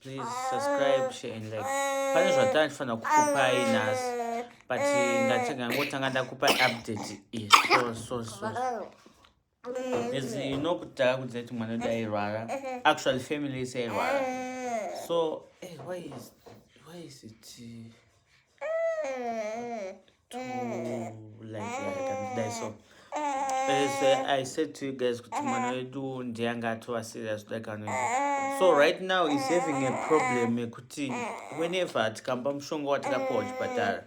please subscribe share and like pane zvatanga ndifanira kukupai nhasi but ndatega ngotanga ndakupai update iyi so so so as you know kuti takakudzai kuti mwana wedu airwara actually family ise airwara so hey, eh, why is why is it uh, to like like that so as uh, i said to you guys kuti mwana wedu ndiye anga atova serious kudai kanoita so right now is having a problem yekuti whenever tikamba mushonga watakapiwa kuchipatara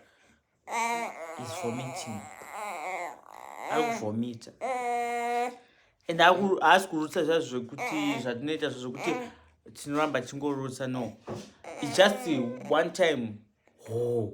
is vomiting ari kuvomita and haasi kurutsa zva zvekuti zvatinoita zvo zvekuti tinoramba tichingorutsa no its just one time hoo oh.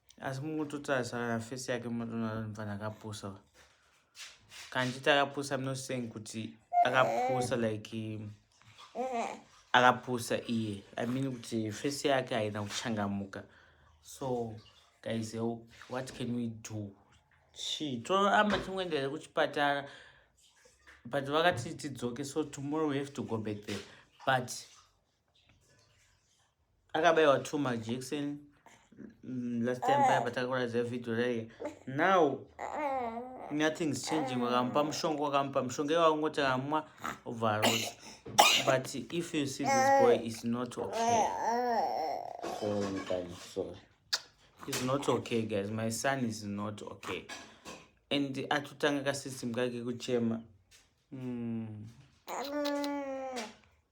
asi mukutotarisana na face yake munotoona kuti mfana akapusa kanjiti akapusa i'm not saying kuti akapusa like akapusa iye i mean kuti face yake haina kuchangamuka so guys what can we do chii toramba tingoenderere kuchipatara but vakati tidzoke so tomorrow we have to go back there but akabaiwa two majection mm, last time paya patakakuratidza video raye now nothing's changing wakamupa mushonga wakamupa mushonga iye wakungoti akamwa obva arota but if you see this boy is not okay is not okay guys my son is not okay and atotanga kasystem kake kuchema mm.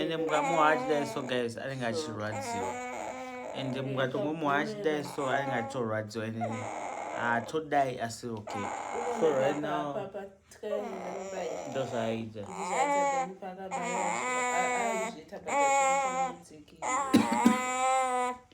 ende mukamuha achidai so guys anenge achirwadziwa ende mukatomuha achidai so anenge achitorwadziwa ende haatodai ah, asi okay so right now ndozvaaita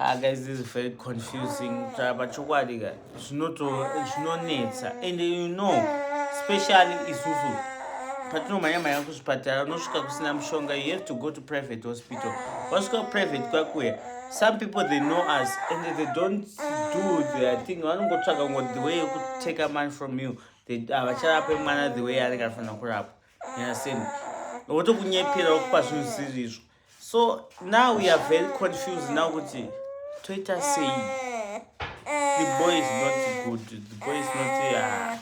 Ah, guys, this is very confusing. Chapa chokwadi ka zvinoto zvinonetsa and you know especially isusu patinomhanya mhanya kuzvipatara unosvika kusina mushonga you have to go to private hospital wasvika kuprivate kwakuya some people they know us and they don't do their thing vanongotsvaga ngo the way yekutake money from you havacharape mwana the way anenge anofanira kurapwa yaseni votokunyepera vokupa zvinhu zvisiri izvo so now we are very confused now kuti toita sei the boy is not good the boy is not ah.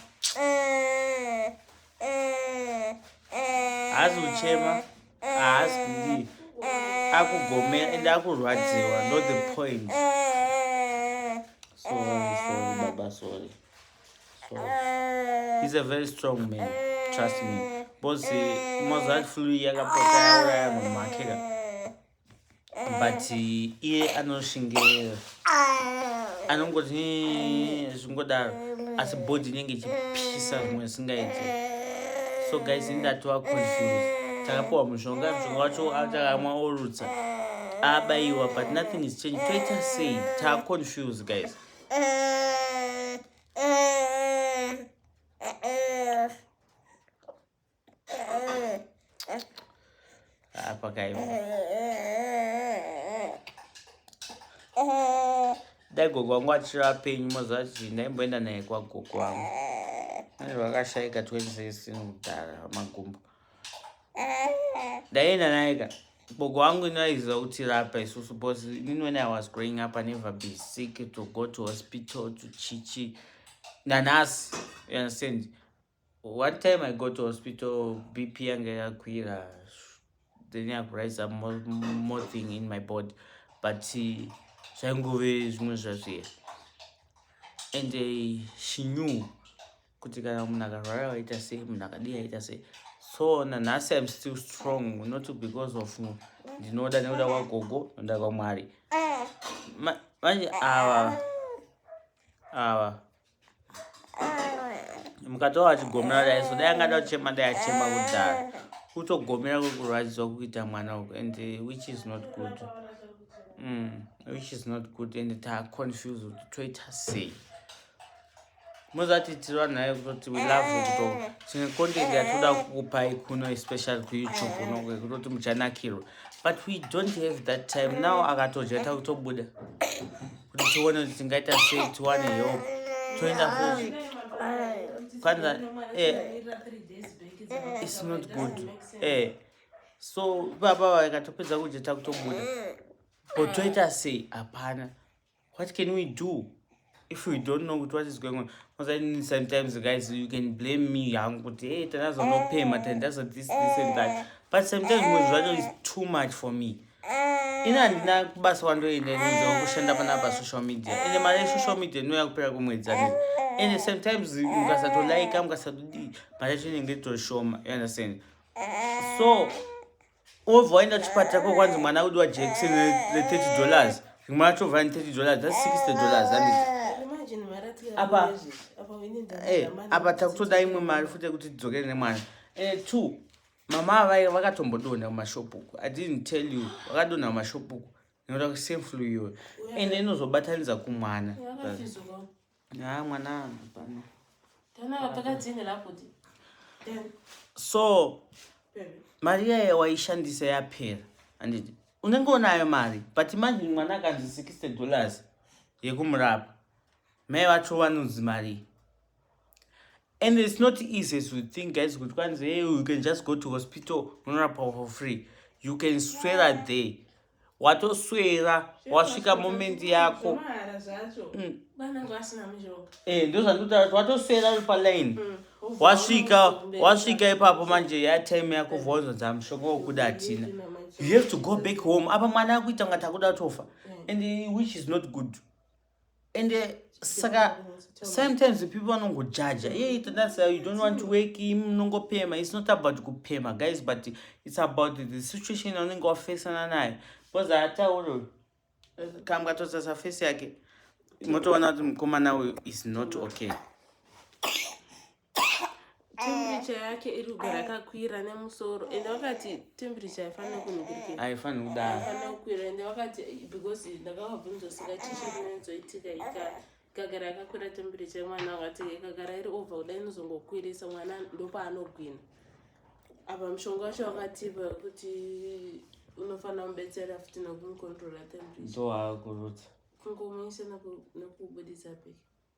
haazi kuchema haazi kudii akugomera ende akurwadziwa not the point sorry sorry baba sorry so he's a very strong man trust me because mozart flu yakapota yauraya munhu wake ka but iye anoshinge anongoti zvingodaro asi body inenge ichipisa zvimwe zvisingaiti so guys indatova confused takapiwa mushonga mushonga wacho atakamwa orutsa abayiwa but nothing is change toita sei taaconfused guys apa kai dai gogo wangu achiri apenyu mazuva chii ndaimboenda naye kwagogo wangu aizvakashaika 2016 kudhara magumbo ndaienda naye ka bogo wangu inaiziva kuti rapa isusu bcause inini when i was growing up i never be sick to go to hospital to chichi nanhasi you understand one time i go to hospital bp yange yakwira then yakurise up more, more thing in my body but zvaingove zvimwe zvazviya and uh, she knew kuti kana munhu akarwara waita sei munhu akadii aita sei so nanhasi im still strong not because of ndinoda nekuda kwagogo noda kwamwari manje ava ava mukatova vachigomera dai so dai angada kuchema dai achema kudhara kutogomera kwekurwadziwa kuita mwana uku and uh, which is not good mm, which is not good and taaconfuse kuti toita sei muzatiitirwa nayo kutoti we love eh. kuto chine content eh. yatoda kukupai kuno especially kuyoutube eh. kuno kwekutoti muchanakirwa but we don't have that time now akatodya ta kutobuda kuti tione kuti tingaita sei tiwane help toenda futi kwanza its not good e so ipapa vakatopedza kudya ta kutobuda but toita sei hapana what can we do if we don't know kuti what is going on osaini sometimes guys you can blame me hangu kuti hey tandazonopema eh. tandazo this this and that eh. but sometimes muzvi zvacho is too much for me eh. ini handina kubasa wandoenda nzaa kushanda pana pa social media ende mari yesocial media inoya kupera kwemwedzi ane ende sometimes mukasatolaika mukasatodii mari yacho inenge toshoma you understand so wobva waenda chipatara ko kwanzi mwana wedu wajection re30 dollars rimwe racho vha 30 dollars thats 60 dollars anditi apa eh, apa takutoda imwe mari futi yekuti tidzokere nemwana eh, two mama avai vakatombodonha kumashopu uku i didn't tell you vakadonha kumashopu uku nekuda kuseflu iyoyo ende inozobatanidza kumwana yeah, Haa mwana hapana. Tana vatakadzinga lakuti. So mari yaye waishandisa yapera handiti unenge unayo mari but manje mwana akanzi 60 dollars yekumurapa mai vacho vanonzi mari and its not easy to think guys kuti kwanzi hey you can just go to hospital unorapa for free you can swera there watoswera wasvika moment yako mm. eh, ndozvandikutaura watoswera uri paline mm. wasvika wasvika ipapo manje yatime yako vonzo dza mushonga wokuda hatina you have to go back home apa mwana akuita ngati akuda tofa eh. and which is not good mm. and uh, saka sometimes people vanongojaja hey, that's uh, you don't want to wake him munongopema it's not about kupema guys but it's about the situation unenge wafesana naye because atauro eh, kambwa tosasa face yake motoona kuti mukomana uyu is not okay temperature yake iri kugara yakakwira nemusoro ende vakati temperature haifanira kunhukurikira haifanira kudaro haifanira kukwira ende vakati because ndakavabvunza saka chichi rinozoitika ika ikagara yakakwira temperature yemwana vakati ikagara iri over kudai inozongokwirisa mwana ndopaanogwina apa mushonga wacho wakatipa kuti unofanira kumubetsera futi nekumucontrola temperature ndoakurutsa kungomuisa nekubudisa peke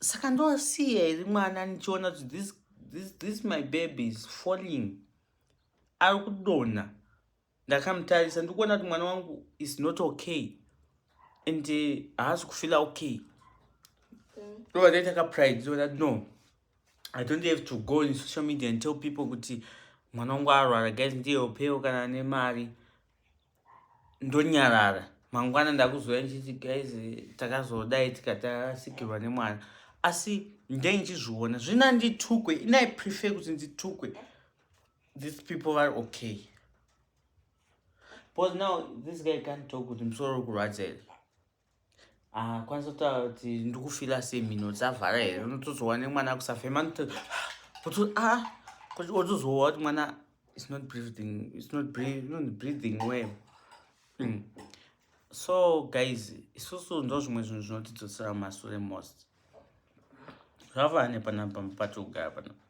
saka ndosiya iri mwana ndichiona kuti this, this, this my baby is falling ari kudonha ndakamutarisa ndikuona kuti mwana wangu is not okay and eh, haasi uh, kufila okay ndova ndaita kapride ndova ndati no i don't have to go in social media and tell people kuti mwana wangu arwara guys ndiye upewo kana nemari ndonyarara mangwana ndakuzouya ndichiti guys takazodai tikati asikirwa nemwana asi ndai ndichizviona zvina nditukwe inai prefer kuti nditukwe these people vari okay because now this guy can't talk kuti musoro uri kurwadza here Ah, kwanisa kutaura kuti ndikufila se mhino dzavhara here unotozowa nemwana akusafema otozowa kuti mwana is not breathing is not breathing well mm. so guys isusu ndo zvimwe zvinhu zvinotidzosera mumasure most zvavaa nepanapa patikugara panapa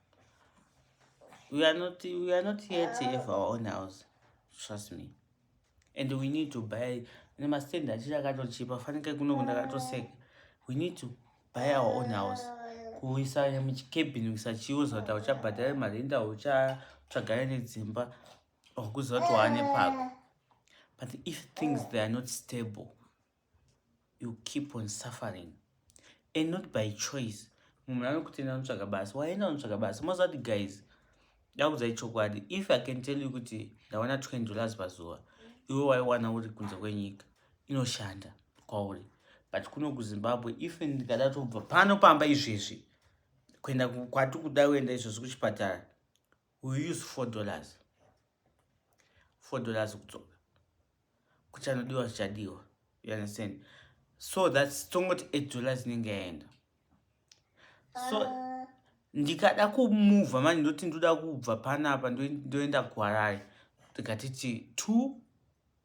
we are not we are not yet to have our own house trust me and we need to buy nemastand achakatochipa fanike kuno ndakatoseka we need to buy our own house kuisa muchikebhini kuisa chiuza kuti auchabhadhare marinda uchatsvagare nedzimba okuziva kuti waane pako but if things they are not stable you keep on suffering and not by choice munhu anokutenda anotsvaga basa waenda unotsvaga basa mozati guys ndakudzai chokwadi if i can tell you kuti ndawana 20 dollars pazuva iwe waiwana uri kunze kwenyika inoshanda kwauri but kuno kuzimbabwe if ndikada tobva pano pamba izvezvi kuenda kwati kuda kuenda izvezvi kuchipatara we use four dollars four dollars kudzoka kuchanodiwa zvichadiwa you understand so thats tongoti eight dollars inenge yaenda so ah. ndikada kumuvha mani ndoti ndoda kubva panapa ndoenda kuharare ndikatiti two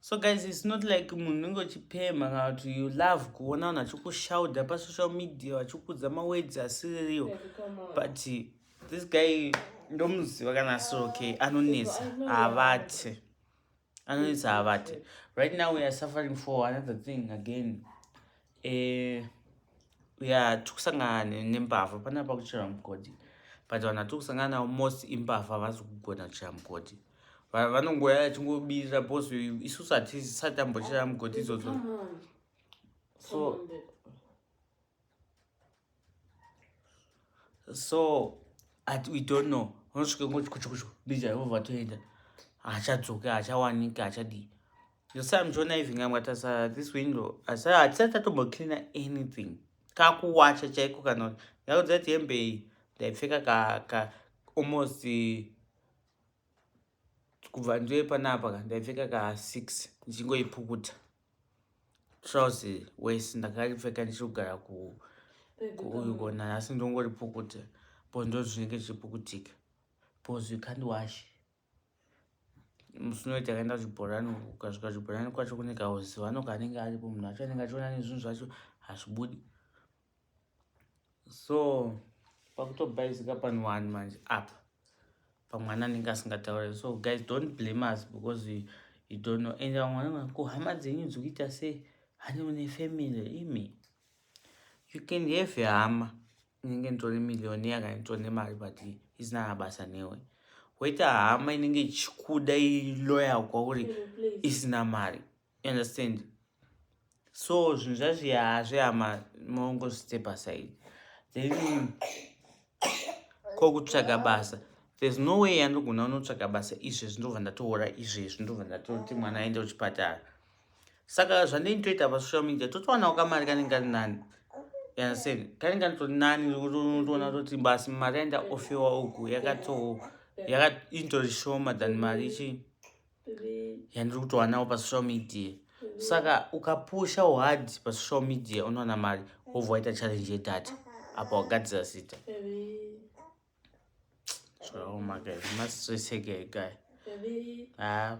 so guys its not like munhu unenge uchipemha kana kuti you love kuona vanhu vachikushauda pasocial media vachikudza mawedzi asiriwo but this guy ndomuziva kana asi okay anonetsa havati anonetsa havati right now weare suffering for another thing again Eh, ya tikusangana nembavha pane apa kuchera mugodhi but vanhu vatiri kusangana navo most imbavha havasi kugona kuchera mugodhi vanongoya vachingobirira bcause isusu hatisati tambochera mugodhi idzodzo so so at we don't know unosvika ngochikuchukuchu ndija yehova toenda hachadzoke hachawanike hachadii yosamjona even amwatasa this window asa hatisati tatombocleana anything kakuwacha chaiko kana yakudzati hembe ndaipfeka ka, ka almost kubva ndive panapa ka ndaipfeka ka six ndichingoipukuta trouse wese ndakaripfeka ndichigara kuuyu kona nhasi ndongoripukuta po ndozvinenge zvichipukutika bcause you can't wash musi unoita kaenda zvibhorani ukasvika zvibhorani kwacho kune kauzivano kanenge aripo munhu wacho anenge achiona nezvinhu zvacho hazvibudi so pakutobhaizika pani wani manje apa pamwana anenge asingataure so guys don't blame us because we, you don't know and vamwe vanoti ko hama dzenyu dziri kuita sei hani une family imi you can have hama inenge nditori milioni yakanditori nemari but isina mabasa newe woita hama inenge ichikuda iloya kwauri isina mari you understand so zvinhu zvazviya hazvihama maongozvite pasaidi then ko kutsvaga basa there's no way yandogona unotsvaga basa izvezvi ndobva ndatoora izvezvi ndobva ndatoti mwana aende kuchipatara saka zvandinitoita pasocial media totowanawo kamari kanenge kari nani yaseni kanenge kanitori nani toona toti basi mari yainda ofewa uku yakatointori shoma than mari chii yandiri kutowanawo pasocial media saka ukapusha uhad pasocial media unowana mari wobva waita challenge yedata apa wagadzira zita zvaomaka masreseke ekai ah,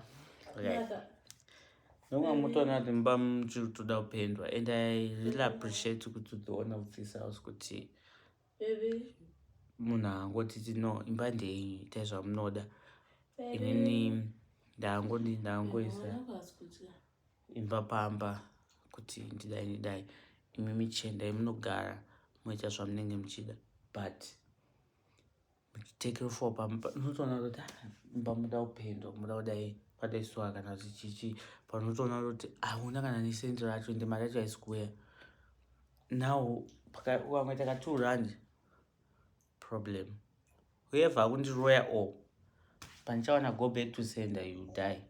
nomwe mutoona kuti mba muchiri kutoda kupendwa and i really appreciate kuti utoona kutsisa us kuti Baby. Munhu angotiti no imba ndeyenyu itai zvamunoda. Inini ndangoti ndangoisa imba pamba kuti ndidai ndidai imi michenda imunogara moita zvamunenge muchida but take for pamba unotoona kuti mba muda kupendwa muda kudai padaisuwa kana kuti chichi panotoona kuti hauna kana nesent racho ende mari yacho haisi kuuya now ukamwe taka two rand problem whoever akundiroya o pandichawana go back to sender you die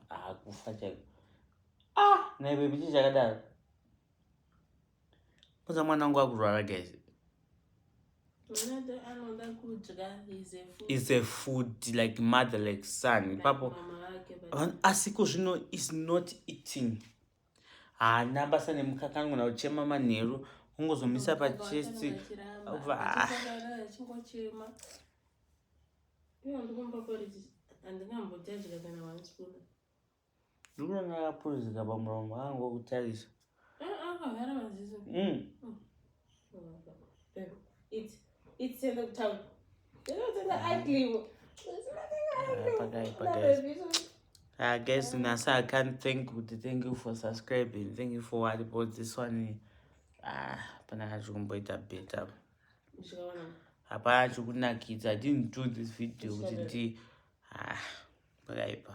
hakufa chaiko ah naibebichi chakadaro Kwanza mwana wangu akurwara guys. Is a food like mother like son. Papo asiko zvino is not eating. Haana basa nemukaka anogona kuchema manheru ungozomisa pachest. Iwo ndikumba poriji andinambotadya kana one spoon. Ndinoona akapuruzika pamuromo angu okutarisa. Eh, akavhara maziso. Mm. Mm. Babe, eat. Eat, send them town. You know, send them ugly. It's nothing ugly. Pakai, That pakai. baby is so- I guess Nasa, I can't thank you. Thank you for subscribing. Thank you for what about this one. Ah, hapana kachikumboita better. Ndikaona. Hapana chikunakidza. I didn't do this video kuti ndi Haa pakaipa.